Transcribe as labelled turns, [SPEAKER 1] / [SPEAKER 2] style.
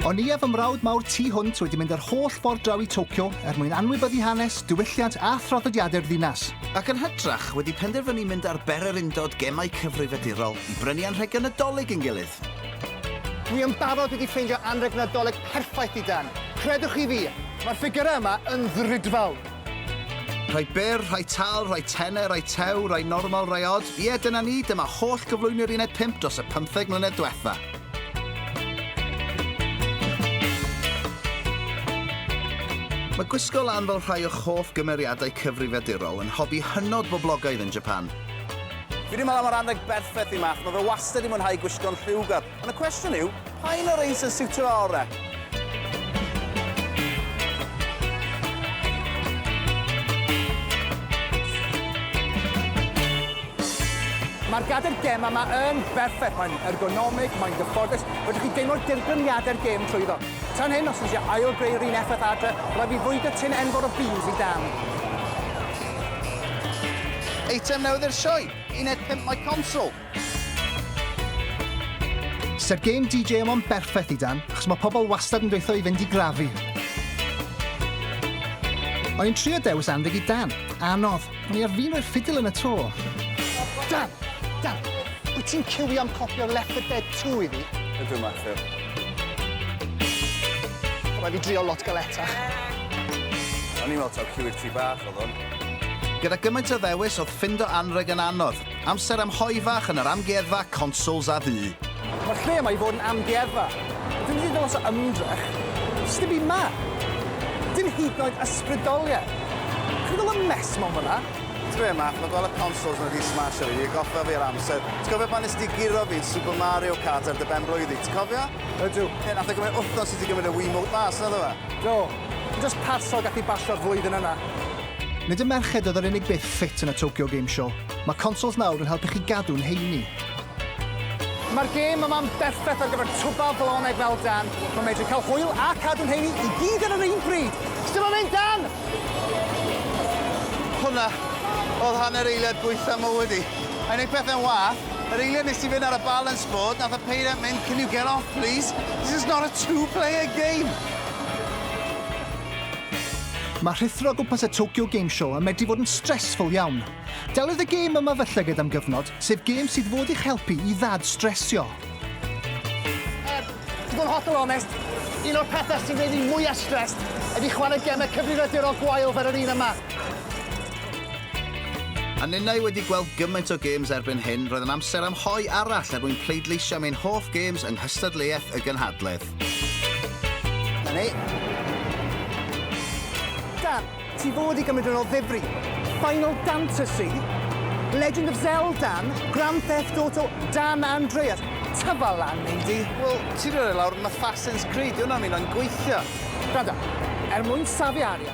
[SPEAKER 1] O'n i a fy mrawd mawr tu hwnt wedi mynd yr holl ffordd draw i Tokyo er mwyn anwybyddu hanes, diwylliant a thraddodiadau'r ddinas. Ac yn hytrach,
[SPEAKER 2] wedi penderfynu mynd ar bererindod gemau cyfrifiadurol i brynu anrhegion Nadolig i'n gilydd. Dwi
[SPEAKER 3] yn barod wedi ffeindio anrheg Nadolig perffaith i Dan. Credwch chi fi! Mae'r ffigyrau yma yn ddrudfawr!
[SPEAKER 2] Rhai byr, rhai tal, rhai tene, rhai tew, rhai normal, rhai odd. Ie, dyna ni, dyma holl gyflwyni'r uned 5 dros y pymtheg mlynedd dwetha. Mae gwisgo lan fel rhai o'ch hoff gymeriadau cyfrifiadurol yn hobi hynod boblogaidd yn Japan. Fi 'di
[SPEAKER 4] meddwl am yr anrheg berffeth i Math, mae fe wastad 'di mwynhau gwisgo'n lliwgar. Ond y cwestiwn yw, pa un o'r rhein sy'n siwtio fo orau?
[SPEAKER 3] Mae'r gadair gem yma yn berffeth. Mae'n ergonomig, mae'n gyfforddus. Fedrwch chi deimlo'r dirgrymiadau'r gem trwyddo. Tan hyn, os ydych chi eisiau greu'r un effaith adre, rhaid fi fwydo tin enfawr o beans i dan.
[SPEAKER 4] Eitem newydd i'r sioe, uned 5 Mae Console.
[SPEAKER 1] Se'r game DJ yma yn berffaith i Dan, achos mae pobl wastad yn dweutho i fynd i grafu. O'n i'n trio dewis anrheg i Dan. Anodd. O'n i ar fin rhoi'r ffidil yn y to. Dan!
[SPEAKER 3] Dan! Wyt ti'n ciwio am copio'r Left 4 Dead 2 i fi? Ydw, Matthew.
[SPEAKER 4] Rhaid
[SPEAKER 3] fi drio lot galetach.
[SPEAKER 4] O'n i'n meddwl taw ciw i'r tŷ bach oedd hwn. Gyda gymaint
[SPEAKER 2] o ddewis, oedd ffindo anrheg yn anodd. Amser am hoe fach yn yr amgueddfa consoles a fu. Mae'r lle yma i fod
[SPEAKER 3] yn amgueddfa. Ond dwi'n ddigon os o ymdrech. Does dim byd 'ma. Dim hyd yn oed ysbrydoliaeth. Dach chi'n gweld y mess ma' 'wn fel 'na? Ti'n gwbod be Matt, mae gweld
[SPEAKER 4] y consoles ma 'di smasho fi, atgoffa fi o'r amser. Ti'n cofio pan nes di guro fi yn Super Mario Kart ar dy ben-blwydd di, ti'n cofio? Ydw. Ie, nath e
[SPEAKER 3] gymryd wthnos
[SPEAKER 4] i ti gymryd y Wiimote mas, naddo fe? Do. Yn jyst
[SPEAKER 3] parsel gath i basio'r flwyddyn yna. Nid y
[SPEAKER 1] merched oedd yr unig beth ffit yn y Tokyo Game Show, mae consoles nawr yn helpu chi gadw'n heini.
[SPEAKER 3] Mae'r gêm yma'n berffaith ar gyfer twba bloneg fel Dan, mae'n medru cael hwyl a cadw'n heini i gyd ar yr un pryd! Sdim yn mynd, Dan!
[SPEAKER 4] Hwnna oedd hanner eiliad gwaetha mywyd i. I wneud pethau'n wath, yr eiliad nes i fynd ar y balance board, nath y peiriant mynd can you get off please? This is not a two player game!
[SPEAKER 1] Mae rhuthro o gwmpas y Tokyo Game Show yn medru fod yn stressful iawn. Deliodd y gêm yma fy llyged am gyfnod, sef gêm sydd fod i'ch helpu i ddad stressio. Er,
[SPEAKER 3] i fod yn hollol onest, un o'r pethau sy'n gwneud fi mwya stressed ydy chwarae gemau cyfrifiadurol gwael fel yr un yma.
[SPEAKER 2] A ninnau wedi gweld gymaint o games erbyn hyn, roedd yn amser am hoe arall er mwyn pleidleisio am ein hoff games yng nghystadleuaeth y gynhadledd.
[SPEAKER 3] Na ni. Dan, ti fod i gymryd yn ôl ddifri. Final Fantasy, Legend of Zelda, Grand Theft Auto, Dan Andreas. Tyfa lan, neidi. Wel, ti roi lawr
[SPEAKER 4] yn Assassin's Creed, di hwnna'n mynd o'n gweithio. Gwranda,
[SPEAKER 3] er mwyn safiaria,